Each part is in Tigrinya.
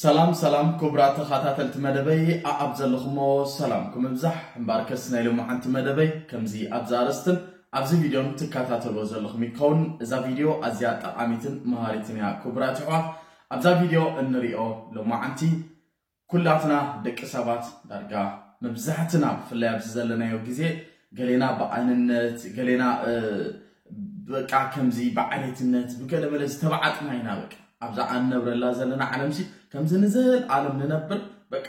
ሰላም ሰላም ኩቡራት ተኻታተልቲ መደበይ ኣኣብ ዘለኹሞ ሰላምኩም እብዛሕ እምባርከስ ናይ ሎማዓንቲ መደበይ ከምዚ ኣብዛ ኣረስትን ኣብዚ ቪድዮን ትካታተልዎ ዘለኹም ይከውን እዛ ቪድዮ ኣዝያ ጠቓሚትን መሃሪትን እያ ኩቡራት ይሕዋት ኣብዛ ቪድዮ እንሪኦ ሎማዓንቲ ኩላትና ደቂ ሰባት ዳርጋ መብዛሕትና ብፍላይ ኣብዚ ዘለናዮ ግዜ ገሌና ብኣንነት ገሌና በቃ ከምዚ ብዓሌትነት ብገለ መለ ዝተባዓጥና ኢና በቃ ኣብዛ ኣንነብረላ ዘለና ዓለምሲ ከምዚ ንዘል ኣለም ንነብር በቃ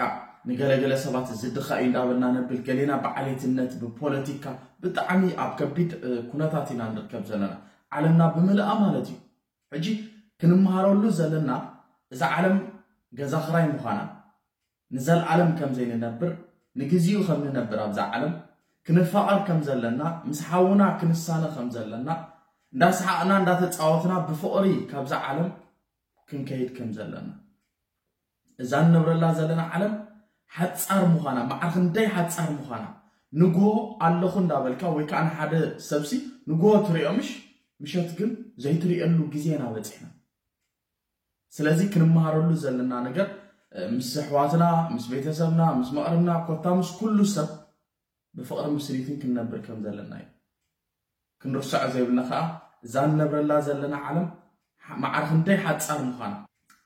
ንገለገለ ሰባት እዚ ድኻ እዩ እንዳበልና ነብል ገሌና ብዓሌትነት ብፖለቲካ ብጣዕሚ ኣብ ከቢድ ኩነታት ኢና ንርከብ ዘለና ዓለምና ብምልኣ ማለት እዩ ሕጂ ክንመሃረሉ ዘለና እዛ ዓለም ገዛ ክራይ ምዃና ንዘልኣለም ከም ዘይንነብር፣ ንግዜኡ ከም ንነብር ኣብዛ ዓለም፣ ክንፋቐር ከም ዘለና፣ ምስ ሓውና ክንሳነ ከም ዘለና፣ እንዳ ሰሓቕና እንዳ ተጻወትና ብፍቕሪ ካብዛ ዓለም ክንከይድ ከም ዘለና። እዛ ንነብረላ ዘለና ዓለም ሓጻር ምዃና፣ መዓር ክንደይ ሓጻር ምዃና፣ ንግሆ ኣለኹ እንዳ በልካ ወይ ከኣ ንሓደ ሰብሲ ንግሆ ትርእዮ ምሽ፣ ምሸት ግን ዘይትርእየሉ ግዜ ኢና በጺሕና። ስለዚ ክንመሃረሉ ዘለና ነገር ምስ ኣሕዋትና፣ ምስ ቤተሰብና፣ ምስ መቕርብና ኮታ ምስ ኩሉ ሰብ ብፍቕርን ብስኒትን ክንነብር ከም ዘለና እዩ። ክንርሰዖ ዘይብልና ከዓ እዛ ንነብረላ ዘለና ዓለም ማዕረ ክንደይ ሓፃር ምዃና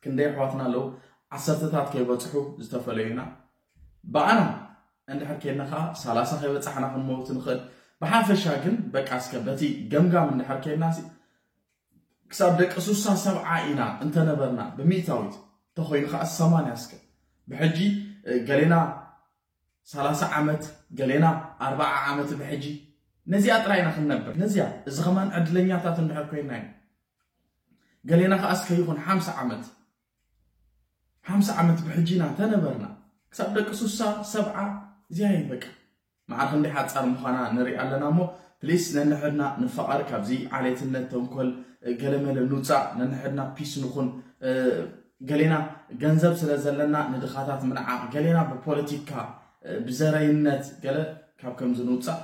ክንደይ ኣሕዋትና ኣለዉ ዓሰርተታት ከይበፅሑ ዝተፈለዩና ብኣና እንድሕር ኬና ከዓ ሰላሳ ከይበፃሕና ክንመውት ንኽእል ብሓፈሻ ግን በቃ እስከ በቲ ገምጋም እንድሕር ኬና ክሳብ ደቂ ሱሳ ሰብዓ ኢና እንተ ነበርና ብሚእታዊት ተኾይኑ ከኣ ሰማንያ እስከ ብሕጂ ገሌና ሰላሳ ዓመት ገሌና ኣርባዓ ዓመት ብሕጂ ነዚኣ ጥራይ ኢና ክንነብር ነዚኣ እዚ ከማን ዕድለኛታት እንድሕር ኮይና ኢና ገሌና ከኣ እስከ ይኹን ሓምሳ ዓመት ሓምሳ ዓመት ብሕጂ ኢና ተነበርና ክሳብ ደቂ ሱሳ ሰብዓ እዚኣ እየ በቃ መዓር ክንደይ ሓጻር ምዃና ንርኢ ኣለና እሞ ፕሊስ ነንሕድና ንፋቐር ካብዚ ዓሌትነት ተንኮል ገለመለ ንውፃእ ነንሕድና ፒስ ንኹን ገሌና ገንዘብ ስለ ዘለና ንድኻታት ምንዓቕ ገሌና ብፖለቲካ ብዘረይነት ገለ ካብ ከምዚ ንውፃእ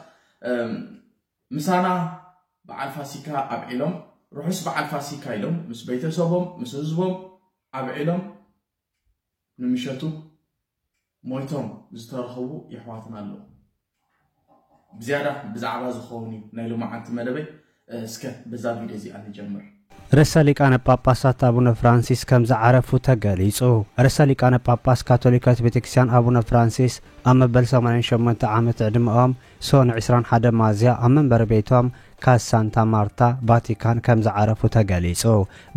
ምሳና በዓል ፋሲካ ኣብዒሎም ርሑስ በዓል ፋሲካ ኢሎም ምስ ቤተሰቦም ምስ ህዝቦም ኣብዒሎም ንምሸቱ ሞይቶም ዝተረኸቡ የሕዋትና ኣለዉ። ብዝያዳ ብዛዕባ ዝኸውን እዩ ናይ ሎማዓንቲ መደበይ እስከ በዛ ቪድዮ እዚኣ ንጀምር። ርእሰ ሊቃነ ጳጳሳት ኣቡነ ፍራንሲስ ከም ዝዓረፉ ተገሊጹ። ርእሰ ሊቃነ ጳጳስ ካቶሊካዊት ቤተክርስቲያን ኣቡነ ፍራንሲስ ኣብ መበል ሰማንያን ሸሞንተ ዓመት ዕድመኦም ሶኑይ ዕስራን ሓደን ሚያዝያ ኣብ መንበሪ ቤቶም ካስ ሳንታ ማርታ ቫቲካን ከም ዝዓረፉ ተገሊጹ።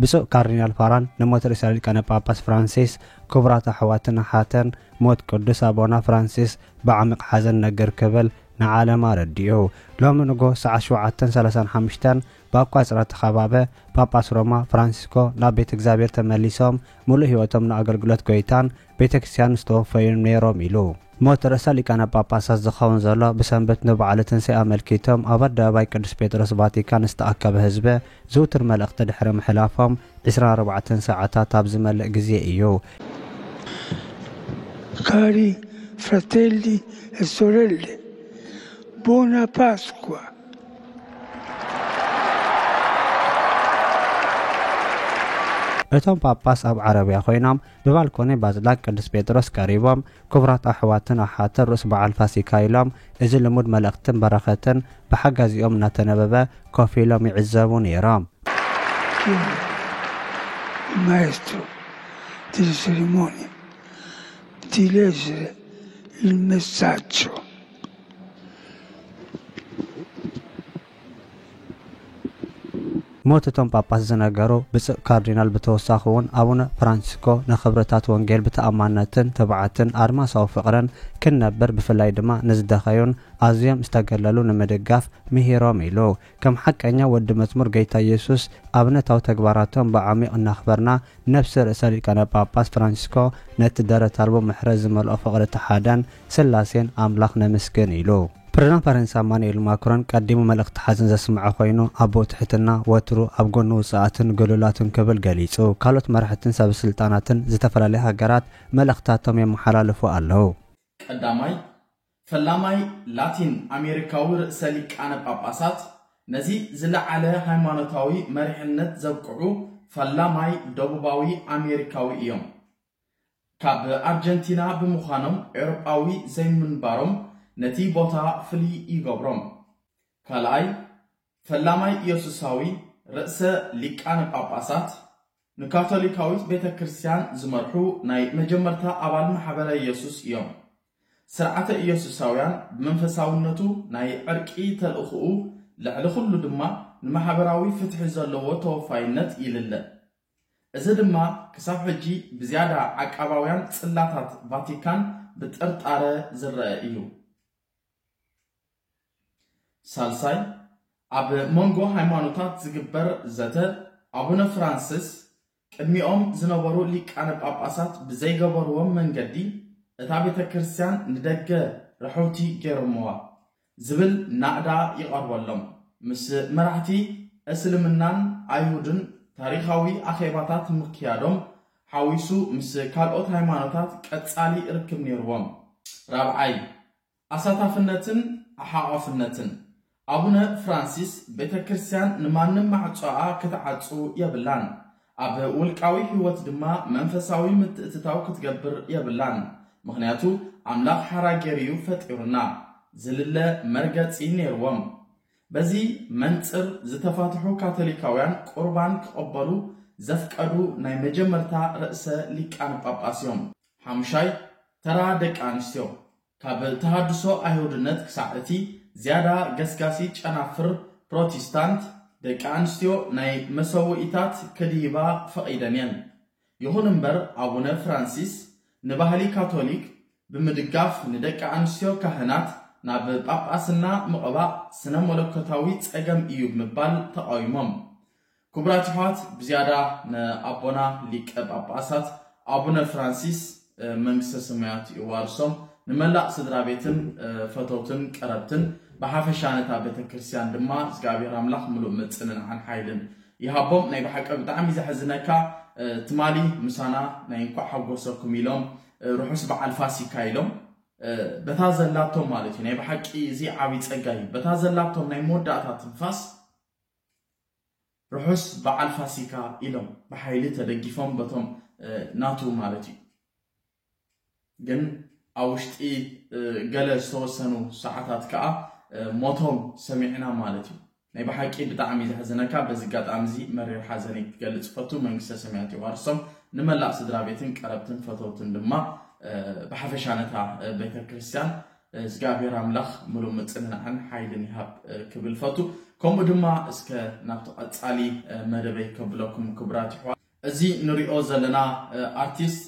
ብፁዕ ካርዲናል ፋራን ንሞት ርእሰ ሊቃነ ጳጳስ ፍራንሲስ ክቡራት ኣሕዋትን ኣሓትን ሞት ቅዱስ ኣቦና ፍራንሲስ ብዓሚቕ ሓዘን እነግር ክብል ንዓለም ኣረዲኡ። ሎሚ ንግሆ ሰዓት ሸውዓተን ሰላሳን ሓሙሽተን ብኣቋጽራ ተኻባበ ጳጳስ ሮማ ፍራንሲስኮ ናብ ቤት እግዚኣብሔር ተመሊሶም ምሉእ ሕይወቶም ንኣገልግሎት ጐይታን ቤተ ክርስቲያንን ዝተወፈዩን ነይሮም ኢሉ። ሞት ርእሰ ሊቃነ ጳጳሳት ዝኸውን ዘሎ ብሰንበት ንበዓለ ትንሣኤ ኣመልኪቶም ኣብ ኣደባባይ ቅዱስ ጴጥሮስ ቫቲካን ዝተኣከበ ሕዝበ ዝውቱር መልእኽቲ ድሕሪ ምሕላፎም ዕስራን ኣርባዕተን ሰዓታት ኣብ ዝመልእ ጊዜ እዩ። Cari fratelli e sorelle, Buona Pasqua! እቶም ጳጳስ ኣብ ዓረብያ ኮይኖም ብባልኮኒ ባዝላክ ቅዱስ ጴጥሮስ ቀሪቦም ክቡራት ኣሕዋትን ኣሓትን ርእስ በዓል ፋሲካ ኢሎም እዚ ልሙድ መልእኽትን በረኸትን ብሓጋዚኦም እናተነበበ ኮፍ ኢሎም ይዕዘቡ ነይሮም። ማይስትሮ delle cerimonie di leggere il messaggio ሞት እቶም ጳጳስ ዝነገሩ ብጽእ ካርዲናል ብተወሳኺውን ኣቡነ ፍራንሲስኮ ንኽብርታት ወንጌል ብተኣማንነትን ትብዓትን ኣድማሳዊ ፍቕርን ክንነብር ብፍላይ ድማ ንዝደኸዩን ኣዝዮም ዝተገለሉ ንምድጋፍ ምሂሮም ኢሉ ከም ሓቀኛ ወዲ መዝሙር ገይታ የሱስ ኣብነታዊ ተግባራቶም ብዓሚቕ እናኽበርና፣ ነፍሲ ርእሰ ሊቃነ ጳጳስ ፍራንቸስኮ ነቲ ደረት ኣልቦ ምሕረት ዝመልኦ ፍቕሪ እቲ ሓደን ስላሴን ኣምላኽ ነመስግን ኢሉ። ፕረዚዳንት ፈረንሳ ማኑኤል ማክሮን ቀዲሙ መልእኽቲ ሓዘን ዘስምዐ ኮይኑ፣ ኣቦ ትሕትና ወትሩ ኣብ ጎኒ ውጹኣትን ግሉላትን ክብል ገሊጹ። ካልኦት መራሕትን ሰበ ስልጣናትን ዝተፈላለያ ሃገራት መልእኽትታቶም የመሓላልፉ ኣለዉ። ቀዳማይ ፈላማይ ላቲን ኣሜሪካዊ ርእሰ ሊቃነ ጳጳሳት፣ ነዚ ዝለዓለ ሃይማኖታዊ መሪሕነት ዘብቅዑ ፈላማይ ደቡባዊ ኣሜሪካዊ እዮም። ካብ ኣርጀንቲና ብምዃኖም ኤውሮጳዊ ዘይምንባሮም ነቲ ቦታ ፍልይ ይገብሮም። ካልኣይ ፈላማይ ኢየሱሳዊ ርእሰ ሊቃነ ጳጳሳት፣ ንካቶሊካዊት ቤተ ክርስቲያን ዝመርሑ ናይ መጀመርታ ኣባል ማሕበረ ኢየሱስ እዮም። ሥርዓተ ኢየሱሳውያን ብመንፈሳውነቱ ናይ ዕርቂ ተልእኾኡ ልዕሊ ኹሉ ድማ ንማሕበራዊ ፍትሒ ዘለዎ ተወፋይነት ይልለ። እዚ ድማ ክሳብ ሕጂ ብዝያዳ ዓቃባውያን ጽላታት ቫቲካን ብጥርጣረ ዝረኣ እዩ። ሳልሳይ፣ ኣብ መንጎ ሃይማኖታት ዝግበር ዘተ ኣቡነ ፍራንስስ ቅድሚኦም ዝነበሩ ሊቃነ ጳጳሳት ብዘይገበርዎም መንገዲ እታ ቤተ ክርስቲያን ንደገ ርሕውቲ ገይሮምዋ ዝብል ናእዳ ይቐርበሎም። ምስ መራሕቲ እስልምናን ኣይሁድን ታሪኻዊ ኣኼባታት ምክያዶም ሓዊሱ ምስ ካልኦት ሃይማኖታት ቀጻሊ ርክብ ነይርዎም። ራብዓይ፣ ኣሳታፍነትን ሓቛፍነትን። ኣቡነ ፍራንሲስ ቤተ ክርስቲያን ንማንም ማዕጾኣ ክትዓጹ የብላን፣ ኣብ ውልቃዊ ሕይወት ድማ መንፈሳዊ ምትእትታው ክትገብር የብላን፣ ምኽንያቱ ኣምላኽ ሓራ ገይሩ'ዩ ፈጢሩና ዝልለ መርገጺ ነይርዎም። በዚ መንጽር ዝተፋትሑ ካቶሊካውያን ቁርባን ክቕበሉ ዘፍቀዱ ናይ መጀመርታ ርእሰ ሊቃነ ጳጳስ'ዮም። ሓሙሻይ ተራ ደቂ ኣንስትዮ። ካብ ተሃድሶ ኣይሁድነት ክሳዕ እቲ ዝያዳ ገስጋሲ ጨናፍር ፕሮቲስታንት፣ ደቂ ኣንስትዮ ናይ መሰውኢታት ከድሂባ ፈቒደን እየን። ይኹን እምበር ኣቡነ ፍራንሲስ ንባህሊ ካቶሊክ ብምድጋፍ ንደቂ ኣንስትዮ ካህናት ናብ ጳጳስና ምቕባእ ስነ-መለኮታዊ ጸገም እዩ ብምባል ተቓዊሞም። ክቡራት የሕዋት ብዝያዳ ንኣቦና ሊቀ ጳጳሳት ኣቡነ ፍራንሲስ መንግስተ ሰማያት የዋርሶም ንመላእ ስድራቤትን ፈተውትን ቀረብትን ብሓፈሻ ነታ ቤተክርስትያን ድማ እግዚኣብሔር ኣምላኽ ምሉእ ምጽንናዕን ሓይልን ይሃቦም ናይ ብሓቂ ብጣዕሚ ዘሕዝነካ ትማሊ ምሳና ናይ እንኳዕ ሓጎሰኩም ኢሎም ርሑስ በዓል ፋሲካ ኢሎም በታ ዘላቶም ማለት እዩ ናይ ብሓቂ እዚ ዓብይ ጸጋ እዩ በታ ዘላቶም ናይ መወዳእታ ትንፋስ ርሑስ በዓል ፋሲካ ኢሎም ብሓይሊ ተደጊፎም በቶም ናቱ ማለት እዩ ግን ኣብ ውሽጢ ገለ ዝተወሰኑ ሰዓታት ከዓ ሞቶም ሰሚዕና ማለት እዩ ናይ ብሓቂ ብጣዕሚ ዘሕዝነካ በዚ ኣጋጣሚ እዚ መሪር ሓዘነይ ክገልፅ ፈቱ መንግስተ ሰማያት የዋርሶም ንመላእ ስድራ ቤትን ቀረብትን ፈተውትን ድማ ብሓፈሻ ነታ ቤተ ክርስቲያን እዝጋብሄር ኣምላኽ ምሉእ ምጽንናዕን ሓይልን ይሃብ ክብል ፈቱ። ከምኡ ድማ እስከ ናብቲ ቀጻሊ መደበይ ከብለኩም ክቡራት ይሕዋ እዚ ንሪኦ ዘለና ኣርቲስት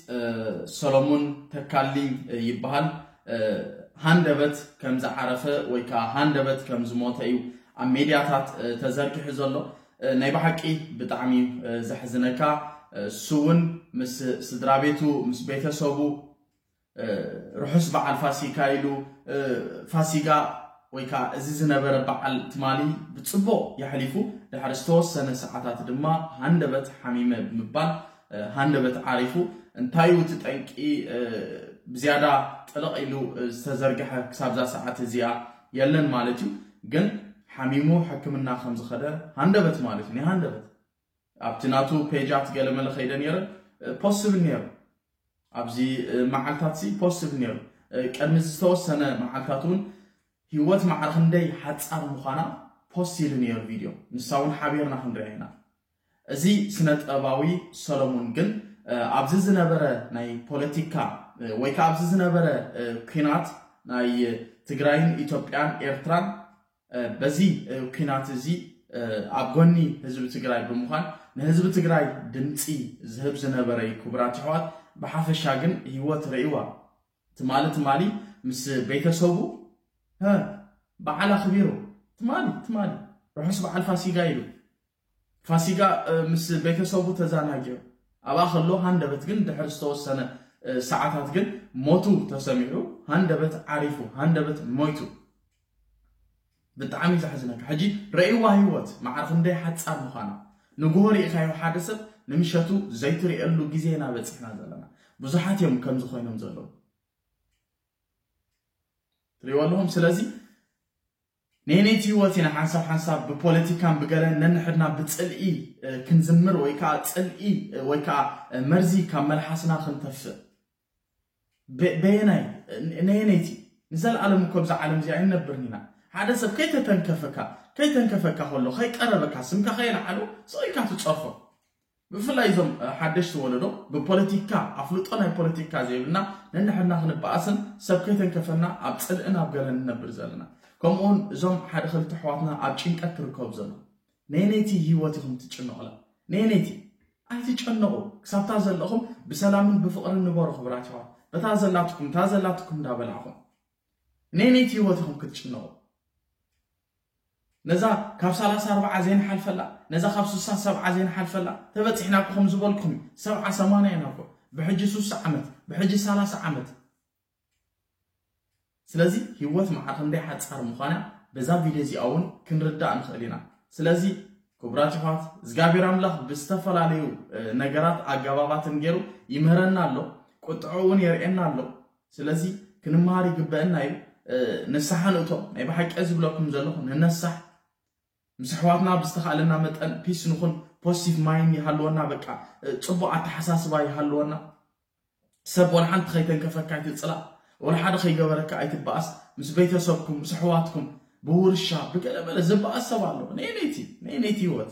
ሰሎሙን ተካልኝ ይበሃል። ሃንደበት ከም ዝዓረፈ ወይ ከዓ ሃንደበት ከም ዝሞተ እዩ ኣብ ሜድያታት ተዘርጊሑ ዘሎ። ናይ ብሓቂ ብጣዕሚ እዩ ዘሕዝነካ። እሱ እውን ምስ ስድራ ቤቱ ምስ ቤተሰቡ ርሑስ በዓል ፋሲካ ኢሉ ፋሲጋ ወይ ከኣ እዚ ዝነበረ በዓል ትማሊ ብጽቡቕ የሕሊፉ ድሕሪ ዝተወሰነ ሰዓታት ድማ ሃንደበት ሓሚመ ብምባል ሃንደበት ዓሪፉ እንታይ እቲ ጠንቂ ብዝያዳ ጥልቕ ኢሉ ዝተዘርግሐ ክሳብዛ ሰዓት እዚኣ የለን ማለት እዩ ግን ሓሚሙ ሕክምና ከም ዝኸደ ሃንደበት ማለት እዩ ናይ ሃንደበት ኣብቲ ናቱ ፔጃት ገለመለ ከይደ ነይረ ፖስት ዝብል ነይሩ ኣብዚ መዓልታት ሲ ፖስት ዝብል ነይሩ ቅድሚ ዝተወሰነ መዓልታት እውን ህይወት ማዕረ ክንደይ ሓፃር ምዃና ፖስት ኢሉ ነይሩ ቪድዮ ንሳ እውን ሓቢርና ክንሪኣ ኢና እዚ ስነ ጥበባዊ ሰሎሙን ግን ኣብዚ ዝነበረ ናይ ፖለቲካ ወይ ከዓ ኣብዚ ዝነበረ ኩናት ናይ ትግራይን ኢትዮጵያን ኤርትራን በዚ ኩናት እዚ ኣብ ጎኒ ህዝቢ ትግራይ ብምዃን ንህዝቢ ትግራይ ድምፂ ዝህብ ዝነበረ እዩ ክቡራት ኣሕዋት ብሓፈሻ ግን ህይወት ርእዋ ትማሊ ትማሊ ምስ ቤተሰቡ በዓል ኣኽቢሩ ትማሊ ትማሊ ርሑስ በዓል ፋሲጋ ኢሉ ፋሲጋ ምስ ቤተሰቡ ተዛናጊዑ ኣብኣ ከሎ ሃንደበት ግን ድሕሪ ዝተወሰነ ሰዓታት ግን ሞቱ ተሰሚዑ ሃንደበት ዓሪፉ ሃንደበት ሞይቱ ብጣዕሚ ዘሕዝነካ ሕጂ ረእይዋ ህይወት መዓር ክንደይ ሓጻር ምዃና ንግሆ ርኢኻዮ ሓደ ሰብ ንምሸቱ ዘይትርእየሉ ግዜ ኢና በጺሕና ዘለና ብዙሓት እዮም ከምዚ ኮይኖም ዘለዉ ትርእይዎ ኣለኹም ስለዚ ነይነይቲ ህይወት ኢና ሓንሳብ ሓንሳብ ብፖለቲካን ብገለን ነንሕድና ብጽልኢ ክንዝምር ወይ ከኣ ጽልኢ ወይ ከኣ መርዚ ካብ መልሓስና ክንተፍእ። በ በየናይ ነየነይቲ? ንዘልኣለም እኮ ኣብዛ ዓለም እዚኣ ኣይንነብርን ኢና። ሓደ ሰብ ከይተተንከፈካ ከይተንከፈካ ከሎ ከይቀረበካ ስምካ ከየልዓሉ ስቕ ኢልካ ትጸርፎ። ብፍላይ እዞም ሓደሽቲ ወለዶ ብፖለቲካ ኣፍልጦ ናይ ፖለቲካ ዘይብልና ነንሕድና ክንበኣስን ሰብ ከይተንከፈና ኣብ ጽልእን ኣብ ገለን ንነብር ዘለና ከምኡ ውን እዞም ሓደ ክልተ ኣሕዋትና ኣብ ጭንቀት ክርከቡ ዘለዉ ነየነይቲ ህይወት ኢኹም ትጭነቑላ ነየነይቲ ኣይትጨነቑ ክሳብታ ዘለኹም ብሰላምን ብፍቕርን ንበሩ ክብራት ይዋት በታ ዘላትኩም እታ ዘላትኩም እንዳበላዕኹም ነየነይቲ ህይወት ኢኹም ክትጭነቑ ነዛ ካብ ሰላሳ ኣርባዓ ዘይንሓልፈላ፣ ነዛ ካብ ስሳ ሰብዓ ዘይንሓልፈላ ተበጺሕና እኮ ከም ዝበልኩም እዩ። ሰብዓ ሰማንያ ኢና እኮ ብሕጂ ሱሳ ዓመት ብሕጂ ሰላሳ ዓመት። ስለዚ ሂወት መዓር ክንደይ ሓጻር ምዃና በዛ ቪድዮ እዚኣ እውን ክንርዳእ ንኽእል ኢና። ስለዚ ክቡራት ይሕዋት እግዚኣብሔር ኣምላኽ ብዝተፈላለዩ ነገራት ኣገባባትን ገይሩ ይምህረና ኣሎ፣ ቁጥዑ እውን የርእየና ኣሎ። ስለዚ ክንመሃር ይግበእና እዩ ንስሓ ንእቶ ናይ ብሓቂ ዝብለኩም ዘለኹ ንነሳሕ ምስ ኣሕዋትና ብዝተኻእለና መጠን ፒስ ንኹን ፖስቲቭ ማይን ይሃልወና በቃ ፅቡቅ ኣተሓሳስባ ይሃልወና ሰብ ወላ ሓንቲ ከይተንከፈካ ኣይትፅላእ ወላ ሓደ ከይገበረካ ኣይትበኣስ ምስ ቤተሰብኩም ምስ ኣሕዋትኩም ብውርሻ ብገለመለ ዝበኣስ ሰብ ኣሎ ነይነይቲ ነይነይቲ ህይወት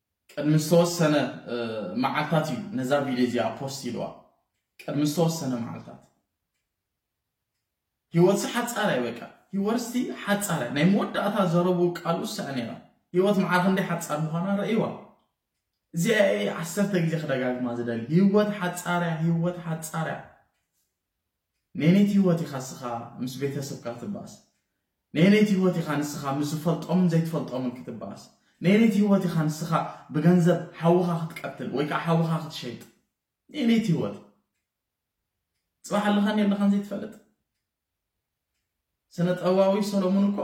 ቅድሚ ዝተወሰነ መዓልታት እዩ ነዛ ቪድዮ እዚኣ ፖስት ኢልዋ ቅድሚ ዝተወሰነ መዓልታት ህይወትሲ ሓጻር እያ በቃ ህይወትሲ ሓጻር እያ ናይ መወዳእታ ዘረቡ ቃሉ እሳ ነይራ ህይወት መዓር ክንደይ ሓጻር ምዃና ረእይዋ እዚኣ ዓሰርተ ግዜ ክደጋግማ ዝደሊ ህይወት ሓጻር እያ ህይወት ሓጻር እያ ነየነይቲ ህይወት ኢኻ እስኻ ምስ ቤተሰብካ ክትበኣስ? ነየነይቲ ህይወት ኢኻ ንስኻ ምስ ዝፈልጦምን ዘይትፈልጦምን ክትበኣስ? ነየነይቲ ህይወት ኢኻ ንስኻ ብገንዘብ ሓውኻ ክትቀትል ወይ ከዓ ሓውኻ ክትሸይጥ? ነየነይቲ ህይወት? ፅባሕ ኣለኻን የለኻን ዘይትፈልጥ ስነ ጥበባዊ ሰሎሙን እኮ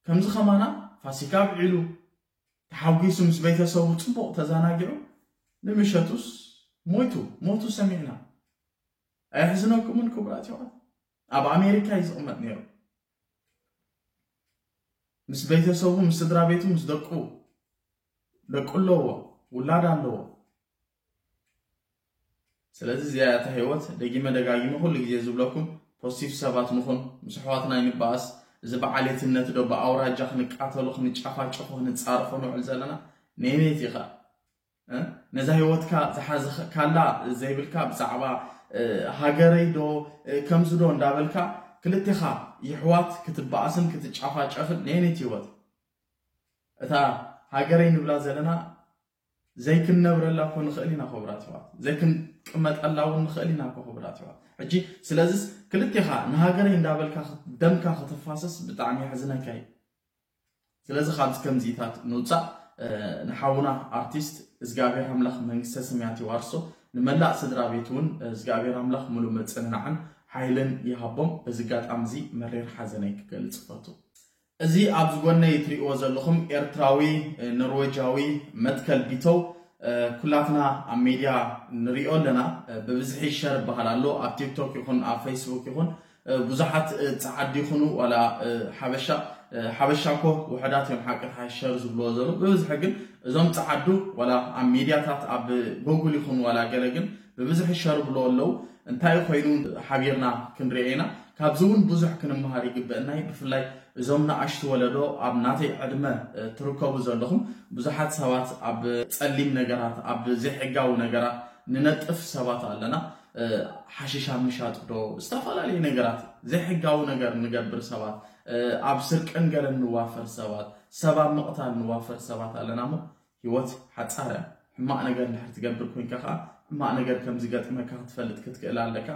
ከምዚ ከማና ፋሲካ ኣብዒሉ ተሓጒሱ ምስ ቤተሰቡ ፅቡቕ ተዘናጊዑ ንምሸቱስ ሞይቱ ሞቱ ሰሚዕና ኣየሕዝነኩምን ክቡራት የዋት ኣብ ኣሜሪካ እዩ ዝቕመጥ ነይሩ ምስ ቤተሰቡ ምስ ስድራ ቤቱ ምስ ደቁ ደቁ ኣለዎ ውላድ ኣለዎ ስለዚ እዚኣ እታ ህይወት ደጊመ ደጋጊመ ኩሉ ግዜ ዝብለኩም ፖስቲቭ ሰባት ንኹን ምስ ኣሕዋትና ይንበኣስ እዚ በዓሌትነት ዶ ብኣውራጃ ክንቃተሉ ክንጫፋጨፉ ክንፃረፎ ንውዕል ዘለና ነይነይቲ ኢኻ ነዛ ህይወትካ ዝሓዝካላ ዘይብልካ ብዛዕባ ሃገረይ ዶ ከምዚ ዶ እንዳበልካ ክልቴኻ ይሕዋት ክትበኣስን ክትጫፋጨፍን ነየነይቲ ህይወት እታ ሃገረይ ንብላ ዘለና ዘይክንነብረላ እኮ ንኽእል ኢና ክቡራት ይሕዋት ዘይክንቅመጠላ እውን ንኽእል ኢና እኮ ክቡራት ይሕዋት ሕጂ ስለዚስ ክልቴኻ ንሃገረይ እንዳበልካ ደምካ ክትፋሰስ ብጣዕሚ የሕዝነካ እዩ ስለዚ ካብዚ ከምዚታት ንውጻእ ንሓውና ኣርቲስት እዝጋብሔር ኣምላኽ መንግስተ ሰማያት ይዋርሶ ንመላእ ስድራ ቤት እውን እዝጋብሔር ኣምላኽ ሙሉ ምጽንናዕን ሓይልን ይሃቦም በዚ ኣጋጣሚ እዚ መሪር ሓዘነይ ክገልጽ እፈቱ እዚ ኣብዚ ጎነይ ትሪእዎ ዘለኹም ኤርትራዊ ኖርዌጃዊ መትከል ቢተው ኩላትና ኣብ ሜድያ ንሪኦ ኣለና ብብዝሒ ሸር ይበሃል ኣሎ ኣብ ቲክቶክ ይኹን ኣብ ፌስቡክ ይኹን ብዙሓት ጻዓዱ ይኹኑ ዋላ ሓበሻ ሓበሻ እኮ ውሕዳት እዮም ሓቂ ተሓሸር ዝብልዎ ዘሎ ብብዝሒ ግን እዞም ጻዓዱ ዋላ ኣብ ሚድያታት ኣብ ጎጉል ይኹን ዋላ ገለ ግን ብብዝሒ ይሸርብልዎ ኣለው እንታይ ኮይኑ ሓቢርና ክንሪኦ ኢና ካብዚ እውን ብዙሕ ክንመሃር ይግበአና እዩ ብፍላይ እዞም ንኣሽቱ ወለዶ ኣብ ናተይ ዕድመ ትርከቡ ዘለኹም ብዙሓት ሰባት ኣብ ጸሊም ነገራት ኣብ ዘይሕጋዊ ነገራት ንነጥፍ ሰባት ኣለና ሓሽሽ ኣብ ምሻጥ ዶ ዝተፈላለዩ ነገራት ዘይሕጋዊ ነገር ንገብር ሰባት ኣብ ስርቅን ገለን ንዋፈር ሰባት ሰብ ኣብ ምቕታል ንዋፈር ሰባት ኣለና እሞ ህይወት ሓፃረ ሕማቕ ነገር እንድሕር ትገብር ኮንካ ከዓ ሕማቕ ነገር ከም ዝገጥመካ ክትፈልጥ ክትክእል ኣለካ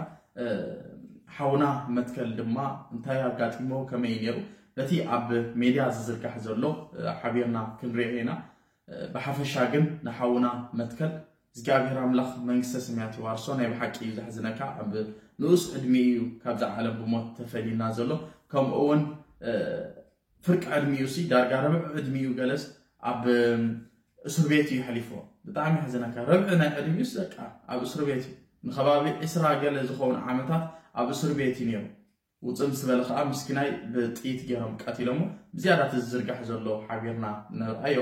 ሓውና መትከል ድማ እንታይ ኣጋጢሞ ከመይ ነይሩ በቲ ኣብ ሜድያ ዝዝርጋሕ ዘሎ ሓቢርና ክንሪኦ ኢና ብሓፈሻ ግን ንሓውና መትከል እግዚኣብሔር ኣምላኽ መንግስተ ሰማያት ይዋርሶ ናይ ብሓቂ እዩ ዘሕዝነካ ኣብ ንኡስ ዕድሚ እዩ ካብዛ ዓለም ብሞት ተፈልዩና ዘሎ ከምኡ እውን ፍርቂ ዕድሚኡ ሲ ዳርጋ ረብዕ ዕድሚኡ ገለስ ኣብ እስር ቤት እዩ ሕሊፎ ብጣዕሚ የሕዝነካ ረብዒ ናይ ዕድሚኡስ በቃ ኣብ እስር ቤት እዩ ንከባቢ ዕስራ ገለ ዝኸውን ዓመታት ኣብ እስር ቤት እዩ ነይሩ ውፅእ ምስ በለ ከዓ ምስኪናይ ብጥይት ገይሮም ቀቲሎሞ። ብዝያዳ እቲ ዝዝርጋሕ ዘሎ ሓቢርና ንርኣዮ።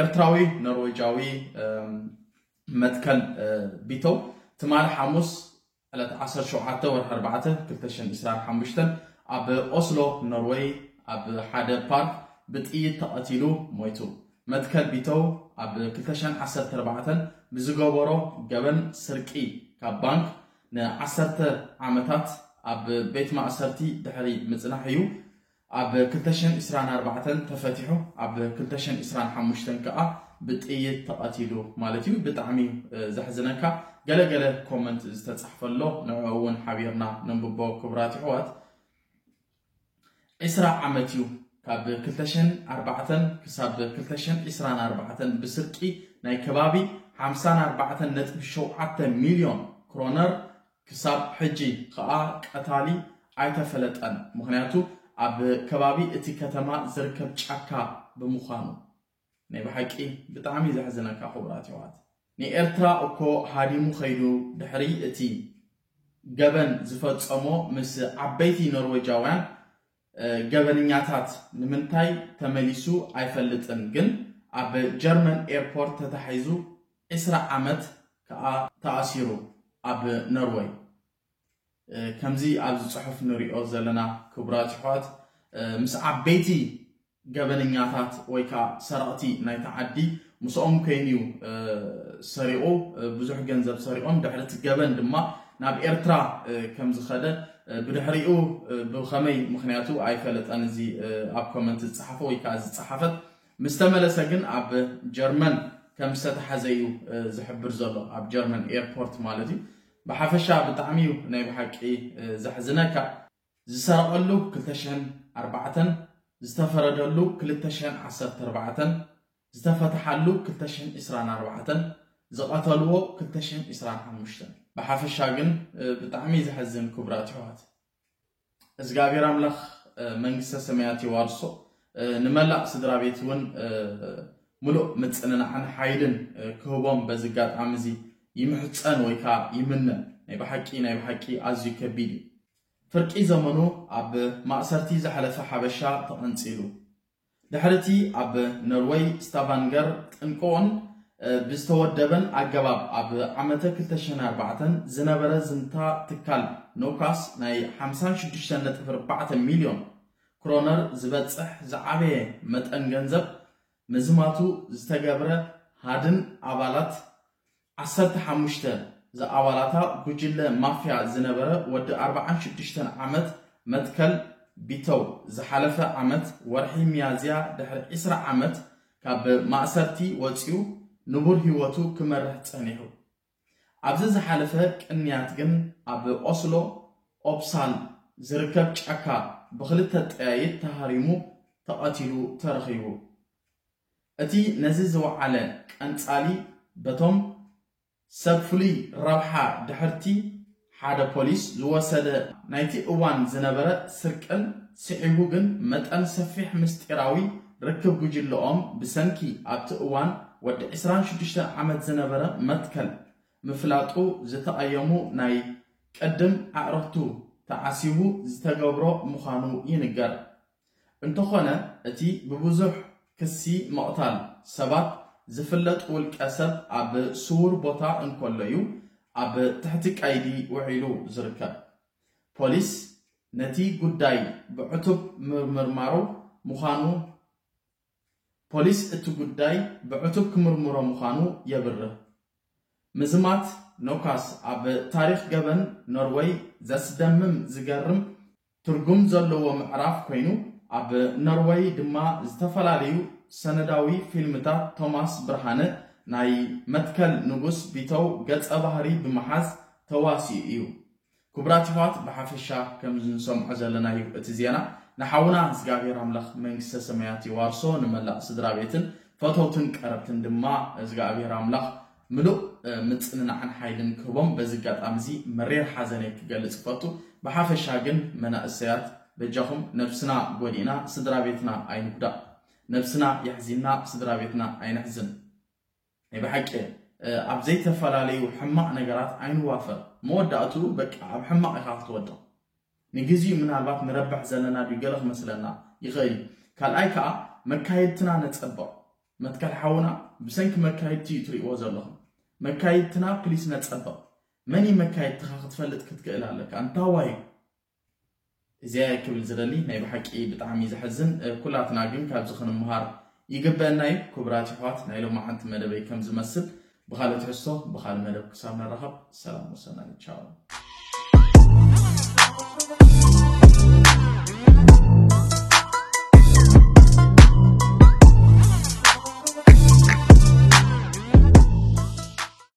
ኤርትራዊ ኖርዌጃዊ መትከል ቢተው ትማሊ ሓሙስ ዕለት 17 ወርሒ 4 2025 ኣብ ኦስሎ ኖርዌይ ኣብ ሓደ ፓርክ ብጥይት ተቐቲሉ ሞይቱ። መትከል ቢተው ኣብ 2014 ብዝገበሮ ገበን ስርቂ ካብ ባንክ ንዓሰርተ ዓመታት ኣብ ቤት ማእሰርቲ ድሕሪ ምጽናሕ እዩ ኣብ ክልተ ሽሕን ዕስራን ኣርባዕተን ተፈቲሑ። ኣብ ክልተ ሽሕን ዕስራን ሓሙሽተን ከኣ ብጥይት ተቐቲሉ ማለት እዩ። ብጣዕሚ እዩ ዘሕዝነካ። ገለ ገለ ኮመንት ዝተጻሕፈ ኣሎ ንዕኡ እውን ሓቢርና ነንብቦ ክቡራት የሕዋት። ዕስራ ዓመት እዩ ካብ ክልተ ሽሕን ኣርባዕተን ክሳብ ክልተ ሽሕን ዕስራን ኣርባዕተን ብስርቂ ናይ ከባቢ ሓምሳን ኣርባዕተን ነጥቢ ሸውዓተ ሚልዮን ክሮነር ክሳብ ሕጂ ኸኣ ቀታሊ ኣይተፈለጠን ምኽንያቱ ኣብ ከባቢ እቲ ከተማ ዝርከብ ጫካ ብምዃኑ። ናይ ብሓቂ ብጣዕሚ ዘሕዝነካ ክቡራት የሕዋት ንኤርትራ እኮ ሃዲሙ ከይዱ ድሕሪ እቲ ገበን ዝፈጸሞ ምስ ዓበይቲ ኖርወጃውያን ገበንኛታት ንምንታይ ተመሊሱ ኣይፈልጥን ግን ኣብ ጀርመን ኤርፖርት ተታሒዙ ዕስራ ዓመት ከኣ ተኣሲሩ ኣብ ኖርወይ ከምዚ ኣብዚ ጽሑፍ ንሪኦ ዘለና ክቡራት ኣሕዋት ምስ ዓበይቲ ገበነኛታት ወይ ከዓ ሰረቕቲ ናይቲ ዓዲ ምስኦም ኮይኑ እዩ ሰሪቑ ብዙሕ ገንዘብ ሰሪቖም ድሕሪ እቲ ገበን ድማ ናብ ኤርትራ ከም ዝኸደ ብድሕሪኡ ብኸመይ ምክንያቱ ኣይፈለጠን እዚ ኣብ ኮመንት ዝፀሓፈ ወይ ከዓ ዝፀሓፈት ምስ ተመለሰ ግን ኣብ ጀርመን ከም ዝተተሓዘ እዩ ዝሕብር ዘሎ ኣብ ጀርመን ኤርፖርት ማለት እዩ ብሓፈሻ ብጣዕሚ ዩ ናይ ብሓቂ ዘሕዝነካ። ዝሰረቐሉ ክልተ ሽሕን ኣርባዕተን፣ ዝተፈረደሉ ክልተ ሽሕን ዓሰርተ ኣርባዕተን፣ ዝተፈተሓሉ ክልተ ሽሕን ዕስራን ኣርባዕተን፣ ዝቐተልዎ ክልተ ሽሕን ዕስራን ሓሙሽተን። ብሓፈሻ ግን ብጣዕሚ ዘሕዝን ክቡራት የሕዋት። እዝጋኣብሔር ኣምላክ መንግስተ ሰማያት የዋርሶ ንመላእ ስድራቤት እውን ምሉእ ምጽንናዕን ሓይልን ክህቦም በዚ ኣጋጣሚ እዚ ይምሕጸን ወይ ከዓ ይምነ ናይ ብሓቂ ናይ ብሓቂ ኣዝዩ ከቢድ እዩ ፍርቂ ዘመኑ ኣብ ማእሰርቲ ዘሕለፈ ሓበሻ ተቐንጺሉ ድሕሪ እቲ ኣብ ኖርወይ ስታቫንገር ጥንቆኦን ብዝተወደበን ኣገባብ ኣብ ዓመተ ክልተ ሽሕን ኣርባዕተን ዝነበረ ዝምታ ትካል ኖካስ ናይ ሓምሳን ሽዱሽተን ነጥቢ ኣርባዕተ ሚልዮን ክሮነር ዝበጽሕ ዝዓበየ መጠን ገንዘብ ምዝማቱ ዝተገብረ ሃድን ኣባላት ዓሰርተ ሓሙሽተ ዝኣባላታ ጉጅለ ማፍያ ዝነበረ ወዲ ኣርብዓን ሽዱሽተን ዓመት መትከል ቢተው ዝሓለፈ ዓመት ወርሒ ሚያዝያ ድሕሪ ዕስራ ዓመት ካብ ማእሰርቲ ወጺኡ ንቡር ህይወቱ ክመርሕ ጸኒሑ። ኣብዚ ዝሓለፈ ቅንያት ግን ኣብ ኦስሎ ኦፕሳል ዝርከብ ጫካ ብኽልተ ጠያይት ተሃሪሙ ተቐቲሉ ተረኺቡ። እቲ ነዚ ዝወዓለ ቀንጻሊ በቶም ሰብ ፍሉይ ረብሓ ድሕርቲ ሓደ ፖሊስ ዝወሰደ ናይቲ እዋን ዝነበረ ስርቅን ስዒቡ ግን መጠን ሰፊሕ ምስጢራዊ ርክብ ጉጅለኦም ብሰንኪ ኣብቲ እዋን ወዲ ዕስራን ሽዱሽተን ዓመት ዝነበረ መትከል ምፍላጡ ዝተቐየሙ ናይ ቅድም ኣዕርኽቱ ተዓሲቡ ዝተገብሮ ምዃኑ ይንገር። እንተኾነ እቲ ብብዙሕ ክሲ ምቕታል ሰባት ዝፍለጥ ውልቀ ሰብ ኣብ ስዉር ቦታ እንከሎ'ዩ ኣብ ትሕቲ ቀይዲ ውዒሉ ዝርከብ። ፖሊስ ነቲ ጉዳይ ብዕቱብ ምምርማሩ ምዃኑ ፖሊስ እቲ ጉዳይ ብዕቱብ ክምርምሮ ምዃኑ የብርህ። ምዝማት ኖካስ ኣብ ታሪኽ ገበን ኖርወይ ዘስደምም ዝገርም ትርጉም ዘለዎ ምዕራፍ ኮይኑ፣ ኣብ ኖርወይ ድማ ዝተፈላለዩ ሰነዳዊ ፊልምታት ቶማስ ብርሃነ ናይ መትከል ንጉስ ቢተው ገጸ ባህሪ ብምሓዝ ተዋሲኡ እዩ። ክቡራት የሕዋት ብሓፈሻ ከምዚ ንሰምዖ ዘለና እዩ እቲ ዜና ንሓውና እዝጋብሄር ኣምላኽ መንግስተ ሰማያት የዋርሶ ንመላእ ስድራቤትን ፈተውትን ቀረብትን ድማ እዝጋኣብሄር ኣምላኽ ምሉእ ምጽንናዕን ሓይልን ክህቦም በዚ ኣጋጣሚ እዚ መሪር ሓዘነይ ክገልጽ እፈቱ ብሓፈሻ ግን መናእሰያት በጃኹም ነብስና ጎዲእና ስድራቤትና ኣይንጉዳእ ነብስና የሕዚንና ስድራቤትና ኣይነሕዝን ናይ ብሓቂ ኣብ ዘይተፈላለዩ ሕማቕ ነገራት ኣይንዋፈር መወዳእትኡ በቃ ኣብ ሕማቕ ኢኻ ክትወድቕ ንግዚኡ ምናልባት ንረብሕ ዘለና ድዩ ገለ ክመስለና ይኽእል እዩ ካልኣይ ከዓ መካየድትና ነፀብቕ መትከል ሓውና ብሰንኪ መካየድቲ እዩ ትሪእዎ ዘለኹም መካየድትና ፕሊስ ነፀብቕ መን እዩ መካየድትኻ ክትፈልጥ ክትክእል ኣለካ እንታዋይ እዩ እዚኣየ ክብል ዝደሊ ናይ ብሓቂ ብጣዕሚ ዘሕዝን ኩላትና ግን ካብዚ ክንምሃር ይግበእና እዩ ኩቡራት የሕዋት ናይ ሎማዓንቲ መደበይ ከም ዝመስል ብካልእ ትሕዝቶ ብካልእ መደብ ክሳብ ንራከብ ሰላም ወሰናይ ቻው